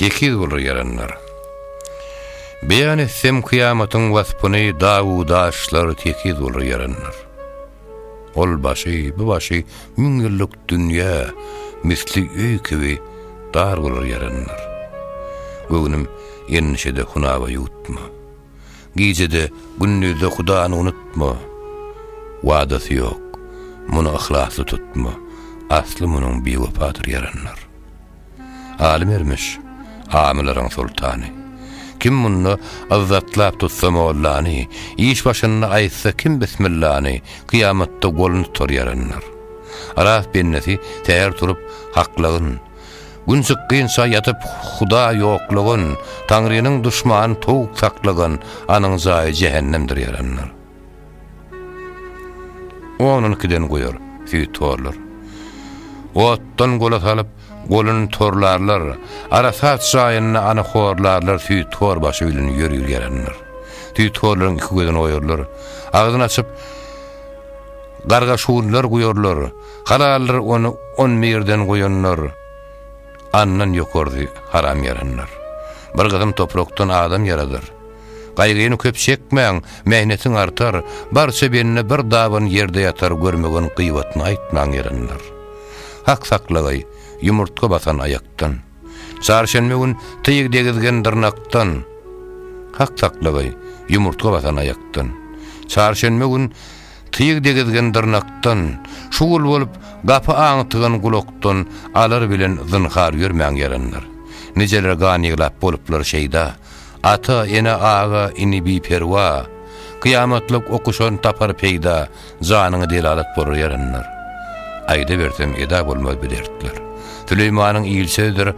Tekiz bolar ýaranlar. Beýan etsem kyýamatyň waspyny dagu daşlar tekiz bolar ýaranlar. Ol başy, bu başy müň ýyllyk dünýä misli öý kibi dar bolar ýaranlar. Göwnüm endişede hunaba ýutma. Gijede gündizde hudany unutma. Wadasy ýok. Muny yhlasly tutma. Asly munyň biwepadyr ýaranlar. Aly Mermiş, amylaryň soltany. Kim munda yzzatlap tutsa mollany, iş başynda aýtsa kim bismillany, kyýamatda golun tutar ýaranlar. Aras bendesi säher turup, haklygyn, Gün çykgynça ýatyp huda ýoklugyn, Taňrynyň duşmany towuk saklygyn, anyň jaýy jähennemdir ýaranlar. Onuňkydan goýar, süýt torlar. Otdan gola salyp, goluny torlarlar, arasat jaýynda ana horlarlar süýt tor başy bilen ýörgül ýarandyr. Süýt horlaryň iki gözüni oýarlar, agzyny açyp, garga-şuwlar guýarlar, halaldyr ony on birden goýandyr, andan ýokarsy haram ýarandyr. Bir gysym toprakdan adam ýaradar. Gaýgyny köp çekmäň, mähnetiň artar, barça bende bir daban ýerde ýatar görmegeň gybatyny aýtmaň ýalanlar. Hak saklagaý, ýumurtga basan aýakdan. Çarşenbe gün tyg degizgen dyrnakdan. Hak saklagaý, ýumurtga basan aýakdan. Çarşenbe gün tyg degizgen dyrnakdan. Şugul bolup gapy aňtygan gulakdan alar bilen zynhar ýörmäň ýalanlar. Nijeler gan ýyglap boluplar şeýda. Ata, ene, aga, ini biperwa, Kyýamatlyk okuşan tapar peýda, Janyňy delalat bolar ýaranlar. Aýdabersem eda bolmaz bu dertler. Süleýmanyň il sözdür,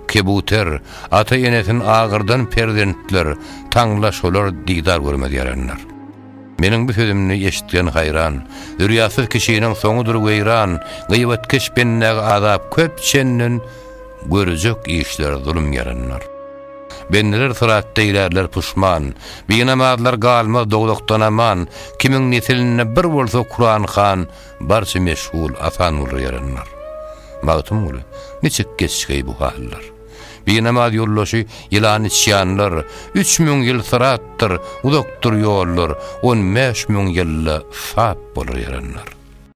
Kebuter, Ata enesin agyrdan perzentler, Taňla şolar didar görmez ýaranlar. Meniň bu sözümni eşitgen haýran, Zürýatsyz kişiniň soňudyr weýran, Gyýbatkeş bendäge azap köp çenden, Görjek işler zulum ýaranlar. Bendeler syratda ýörärler puşman, Binamazlar galmaz dowzahdan aman, Kimiň nesilinde bir bolsa Kuran han, Barça meşgul Asanguly ýaranlar. Magtymguly, niçik geçgeý bu hallar? Binamaz ýoldaşy ýylan içýanlar, Üç müň ýyl syratdyr, uzakdyr ýollar, On bäş müň ýylda sap bolar ýaranlar.